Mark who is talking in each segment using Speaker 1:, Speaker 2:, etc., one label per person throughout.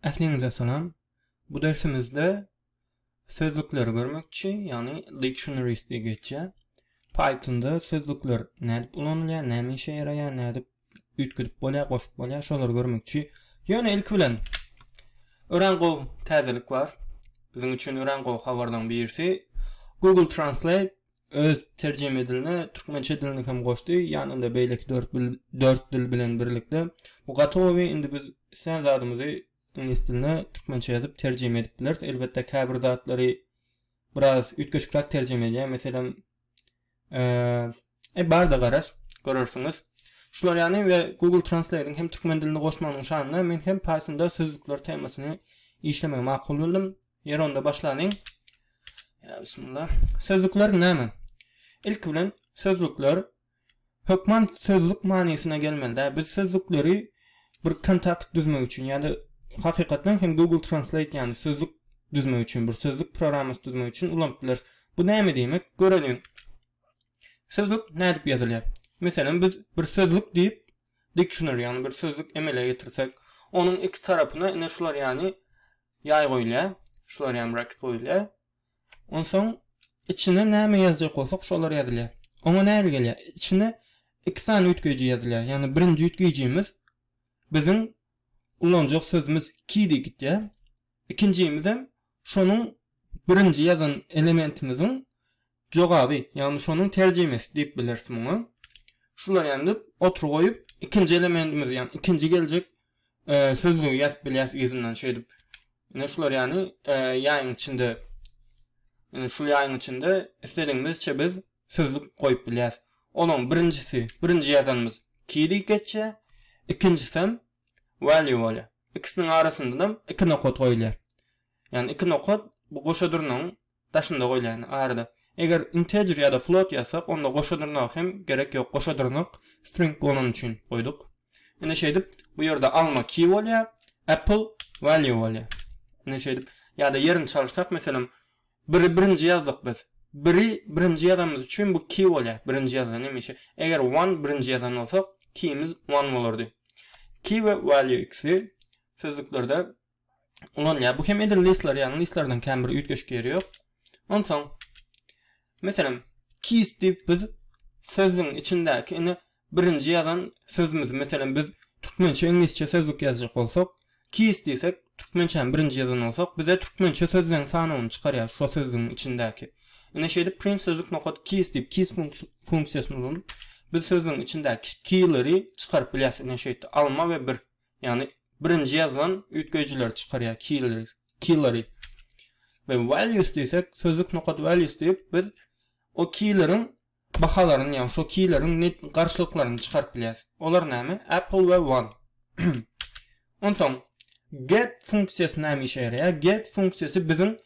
Speaker 1: Ähliňize salam. Bu dersimizde sözlükleri görmekçi, ýagny dictionaries diýip geçýär. Pythonda sözlükler nädip ulanylýar, näme işe ýaraýar, nädip üýtgedip bolýar, goşup bolýar, şolary görmekçi. Ýöne ilki bilen örän gowy täzelik bar. Biziň üçin örän gowy habarlaryň birisi Google Translate öz terjime diline türkmençe dilini hem goşdy, ýanynda beýleki dört bil, dört dil bilen birlikde. Bu gaty gowy, indi biz islän zadymyzy iňlis diline türkmençe ýazyp terjime edip bileris. Elbetde käbir zatlary biraz üýtgeşikräk terjime edýär. Meselem, eee, e, bar-da garaz, görersiňiz. Şular ýany we Google Translate-iň hem türkmen dilini goşmagynyň şanyna men hem paýtunda sözlükler temasyny işlemegi makul bildim. Ýeri onda başlanyň. Ýa bismillah. Sözlükler näme? Ilki bilen sözlükler hökman sözlük manysyna gelmeli-dä. Biz sözlükleri bir kontakt düzmek üçin ýa-da hakykatdan hem Google Translate ýaly sözlük düzmek üçin, bir sözlük programmasy düzmek üçin ulanyp bileris. Bu näme diýmek? Göreliň. Sözlük nädip ýazylýar? Meselem, biz bir sözlük diýip dictionary ýagny bir sözlük emele getirsek, onuň iki tarapyna ine şular ýaly Ýaý goýulýar. Şular ýaly braket goýulýar. Onsoň içine näme ýazjak bolsak, şolar ýazylýar. Oňa nähili gelýär? Içine iki sany üýtgeýji ýazylýar. Ýagny birinji üýtgeýjimiz biziň ulanjak sözümiz ki diýip gitýär. Ikinjimizem şonuň birinji ýazan elementimiziň Jogaby, ýagny şonuň terjimesi diýip bileris muňa. Şular ýaly edip, otur goýup, ikinji elementimiz, ýagny ikinji geljek sözlügi ýazyp bilýäris yzyndan şeýdip. Ine şular ýaly ýaýyň içinde, ine şul ýaýyň içinde isledigimizçe biz sözlük goýup bilýäris. Olaň birinjisi, birinji ýazanymyz key diýip geçýär, ikinjisem value bolýar. Ikisiniň arasyndanam iki nokat goýulýar. Ýagny iki nokat bu goşa durnagyň daşynda goýlaýyn arada. Eger integer ýa-da float ýazsak, onda goşa dyrnagy hem gerek ýok. Goşa dyrnak string bolany üçin goýduk. Indi şeýdip, bu ýerde alma key bolýar, apple value bolýar. Indi şeýdip, ýa-da ýerini çalyşsak, meselem, biri birinji ýazdyk biz. Biri birinji ýazanymyz üçin bu key bolýar. Birinji ýazylan hemişe. Eger one birinji ýazan bolsak, keyimiz one bolardy. Key we value ikisi sözlüklerde ulanýar. Bu hem edil listler ýaly listlerden kän bir üýtgeşik ýeri ýok. Onsoň meselem keys diýip biz sözüň içindäki ine birinji ýazan sözümiz meselem biz türkmençe iňlisçe sözlük ýazjak bolsak keys diýsek türkmençäni birinji ýazan bolsak bize türkmençe sözleň sanawyny çykarýar şo sözüň içindäki. Ine şeýdip print sözlük nokat keys diýip keys funksiýasyny ulanyp biz sözüň içindäki keyleri çykaryp bilýäs ine şeýtdi alma we bir Ýagny birinji ýazgan üýtgeýjileri çykarýar keýleri keýleri we values diýsek sözlük nokat values diýip biz o keýleriň bahalaryny ýagny şo keýleriň net garşylyklaryny çykaryp bilýäs olar näme apple we one onsoň get funksiýasy näme işe ýaraýar get funksiýasy biziň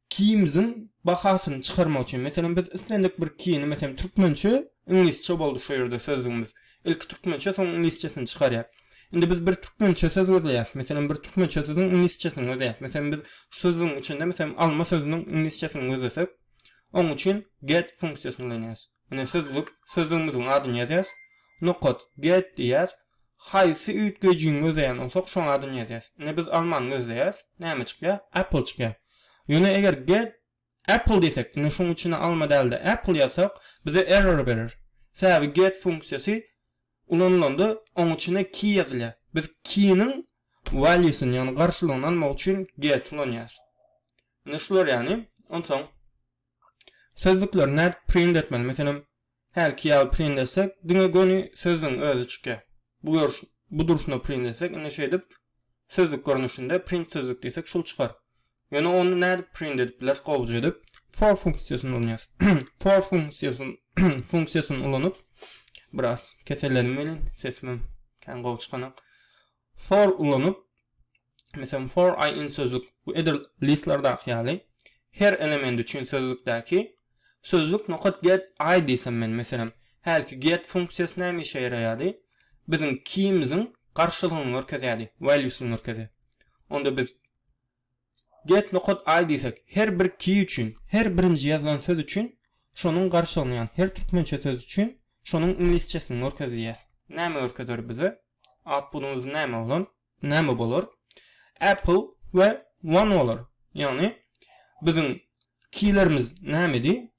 Speaker 1: Kiyimiziň bahasyny çykarmak üçin, meselem, biz islendik bir kiyini, meselem, türkmençe, iňlisçe boldy şu ýerde sözlügimiz. Ilki türkmençe, soň iňlisçesini çykarýar. Indi biz bir türkmençe söz gözleýäs, meselem, bir türkmençe sözüň iňlisçesini gözleýäs. Meselem, biz şu sözlügiň içinde, meselem, alma sözüniň iňlisçesini gözlesek, oň üçin get funksiýasyny ulanýarys. Ine sözlük, sözlügimiziň adyny ýazýas, nokat, get diýýäs, haýsy üýtgejiň gözleýän bolsak şoň adyny ýazýas. Ine biz almany gözleýäs, näme çykýar? Apple çykýar. Ýöne eger get apple diýsek, ine şoň içine alma däl-de apple ýazsak, bize error berer. Sebäbi get funksiýasy ulanylanda oň içine key ýazylýar. Biz key-niň valuesyny ýagny garşylygyny almak üçin get ulanýas. Ine şular ýagny, onsoň. Sözlükleri nädip print etmeli? Meselem, hälki ýaly print etsek, diňe göni sözlügiň özi çykýar. Bu görüş, bu durşuna print etsek, indi şeýdip, sözlük görnüşinde print sözlük diýsek, şul çykar. Ýöne ony nädip print edip bileris gowuja edip? For funksiýasyny ulanýarys. For funksiýasyny funksiýasyny ulanyp, biraz keselledim welin, sesimem kän gowy çykanok. For ulanyp, Meselem, for i in sözlük we edil listlerdaky ýaly her element üçin sözlükdäki sözlük nokat get i diýsem men meselem hälki get funksiýasy näme işe ýaraýardy biziň kimiziň garşylygyny görkezýärdi valuesyny görkezýär onda biz get nokat i diýsek her bir ki üçin her birinji ýazylan söz üçin şonuň garşylygyny ýagny her türkmençe söz üçin şonuň iňlisçesini görkezýär näme görkezer bize outputymyz näme bolar Näme bolar? Apple we One bolar. Ýagny biziň kilerimiz nämedi?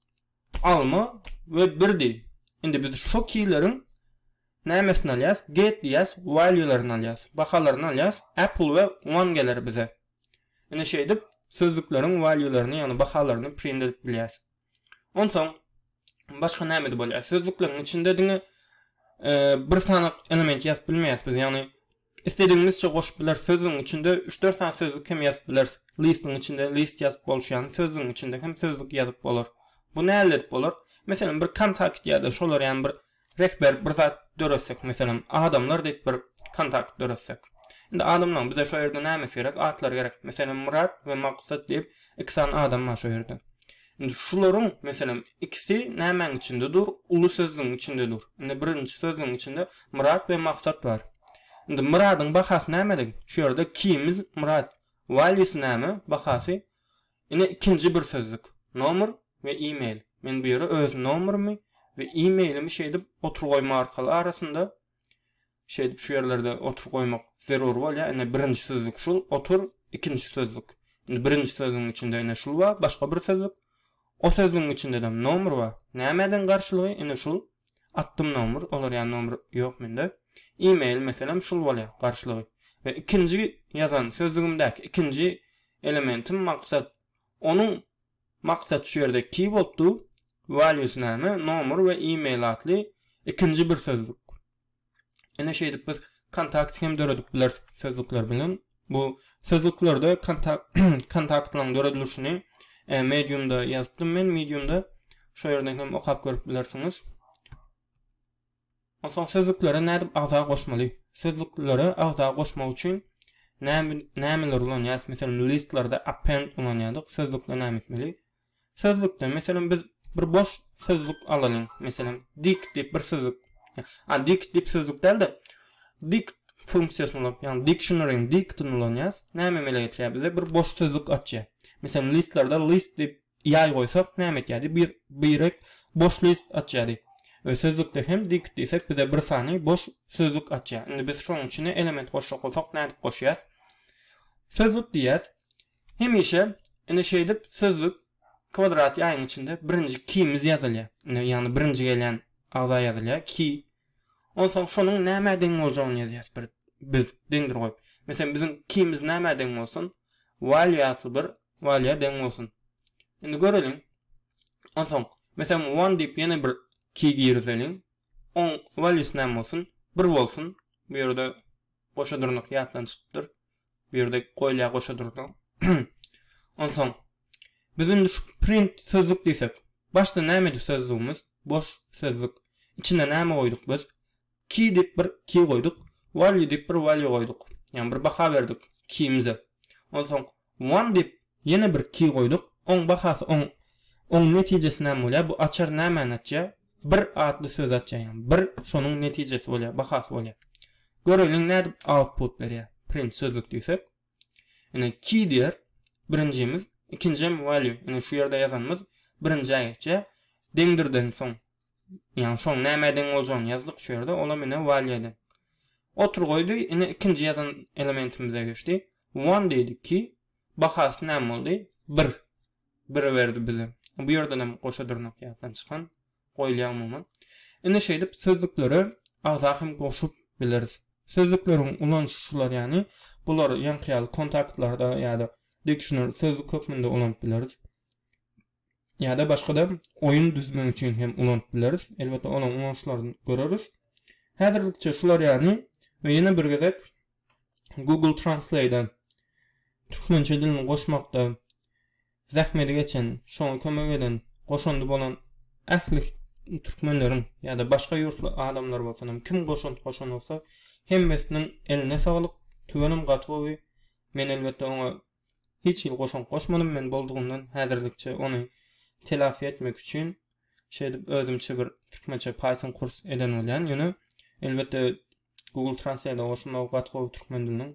Speaker 1: Alma we birdi. Indi biz şo kileriň nämesini alýas? Get diýýäs, value-laryny alýas, bahalaryny alýas, Apple we One geler bize. Indi şeýdip sözlükleriň value-laryny, ýagny bahalaryny print edip bilýäs. Onsoň başga nämede bolýar? Sözlükleriň içinde diňe bir sany element ýazyp bilmeýäs biz, ýagny istedigiňizçe goşup bileris. Sözlügiň içinde 3-4 sany sözlük hem ýazyp bileris. Listiň içinde list ýazyp bolşy ýaly, sözlügiň içinde hem sözlük ýazyp bolar. Bu nädip bolar? Meselem, bir kontakt ýa-da şolar ýaly bir Rehber bir zat döretsek meselem adamlar diýip bir kontakt döretsek. Indi adamlaň bize şo ýerde nämesi gerek atlary gerek meselem Myrat we Maksat diýip iki sany adam bar şo ýerde. Indi şularyň meselem ikisi nämäň içinde dur uly sözlügiň içinde dur. Indi birinji sözlügiň içinde Myrat we Maksat bar. Indi Myradyň bahasy nämelik şu ýerde kimiz Myrat valýusy näme bahasy Ine ikinji bir sözlük. Nomer we e-mail. Men bu ýere öz nomerimi we e-mailimi şeýdip otur goýma arkaly arasynda şeýdip şu ýerlerde otur goýmak zerur bolýar. Ine birinji sözlük şul otur, ikinji sözlük. Indi birinji sözlügiň içinde ine şul bar, başga bir sözlük. O sözlügiň içindedem nomer bar. Nämeden garşylygy ine şul. Atdym nomer, olar ýa nomer ýok mende. E-mail meselem şul bolýar garşylygy. We ikinji ýazan sözlügimdäki ikinji Elementim maksat. Onuň Maksat şu ýerde keyword du, values näme, nomer we email atly ikinji bir sözlük. Ine şeýdip biz kontakt hem döredip bileris sözlükler bilen. Bu sözlüklerde kontaktlaryň döredilişini mediumda ýazypdym men mediumda. Şo ýerden hem okap görüp bilersiňiz. Onsoň sözlüklere nädip agza goşmaly? Sözlüklere agza goşmak üçin nämeler ulanýarys? Meselem, listlarda append ulanýardyk. Sözlükde näme etmeli? Sözlükde, meselem, biz bir boş sözlük alalyň. Meselem, dict diýip bir sözlük. A, dict diýip sözlük däl-de, dict funksiýasyny ulanyp, ýagny dictionary-niň dict-ini ulanýarys. Näme emele getirýär bize? Bir boş sözlük açýar. Meselem, listlarda list diýip Ýaý goýsak, näme etýärdi? Bir birek boş list açýardy. We sözlükde hem diýkit diýsek, bize bir sany boş sözlük açýar. Indi biz şonuň içine element goşjak bolsak, nädip goşýas? Sözlük diýýäs. Hemişe, indi şeýdip, sözlük kwadrat ýaýyň içinde birinji kimiz ýazylýar. Indi, ýagny birinji gelýän agza ýazylýar, ki. Onsoň şonuň nämä deň boljagyny ýazýas bir biz deňdir goýup. Meselem, biziň kimiz nämä deň bolsun? Value atly bir Walýa deň bolsun. Indi göreliň. Onsoň, meselem one diýip ýene bir key girizeliň. Oň values näme bolsun? Bir bolsun. Bu ýerde goşa durnuk ýatdan çykypdyr. Bu ýerde goýulýar goşa durnuk. Onsoň, biz indi şu print sözlük diýsek. Başda nämedi sözlügimiz? Boş sözlük. Içine näme goýduk biz? Ki diýip bir ki goýduk. Value diýip bir value goýduk. Ýagny bir baha berdik kimize. Onsoň one diýip ýene bir ki goýduk. Oň bahasy oň oň netijesi näme bolýar? Bu açar nämäni açýar? Bir atly sözi açýar. Ýagny bir şonuň netijesi bolýar, bahasy bolýar. Göreliň nädip output berýär. Print sözlük diýsek. Ine ki diýer. Birinjimiz, ikinjem value. Ine şu ýerde ýazanymyz birinjä geçýär. Deňdirden soň Ýaňy soň näme ediň boljagyny ýazdyk şu ýerde, olam ine while ýedi. Otur goýdy, ine ikinji ýazan elementimize geçdi. One diýdik ki, bahasy näme boldy? Bir. Biri berdi bize. Bu ýerdenem goşa dyrnak ýatdan çykan, goýulýar umuman. Indi şeýdip sözlüklere agza hem goşup bileris. Sözlükleriň ulanyşy şular ýany, bulary ýaňky ýaly kontaktlarda ýa-da diksioner sözlük hökmünde ulanyp bileris. ýa-da başga-da oýun düzmek üçin hem ulanyp bileris. Elbetde olaň ulanyşlaryny göreris. Häzirlikçe şular ýaly we ýene bir gezek Google Translate-a türkmençe dilini goşmakda zähmeti geçen, şoňa kömek eden, goşandy bolan ähli türkmenleriň ýa-da başga ýurtly adamlar bolsun hem kim goşant goşan bolsa hemmesiniň eline saglyk, tüwenim gaty gowy. Men elbetde oňa Hiç hili goşant goşmadym men boldugyndan häzirlikçe ony telafi etmek üçin şeýdip özümçe bir türkmençe python kurs eden bolýan ýöne elbetde google translate goşulmagy gaty gowy türkmen diliniň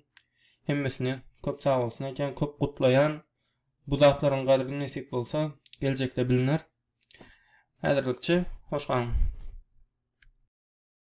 Speaker 1: hemmesine köp sagbolsun aýtýan köp gutlaýan bu zatlaryň gadry nesip bolsa geljekde biliner häzirlikçe hoş galyň.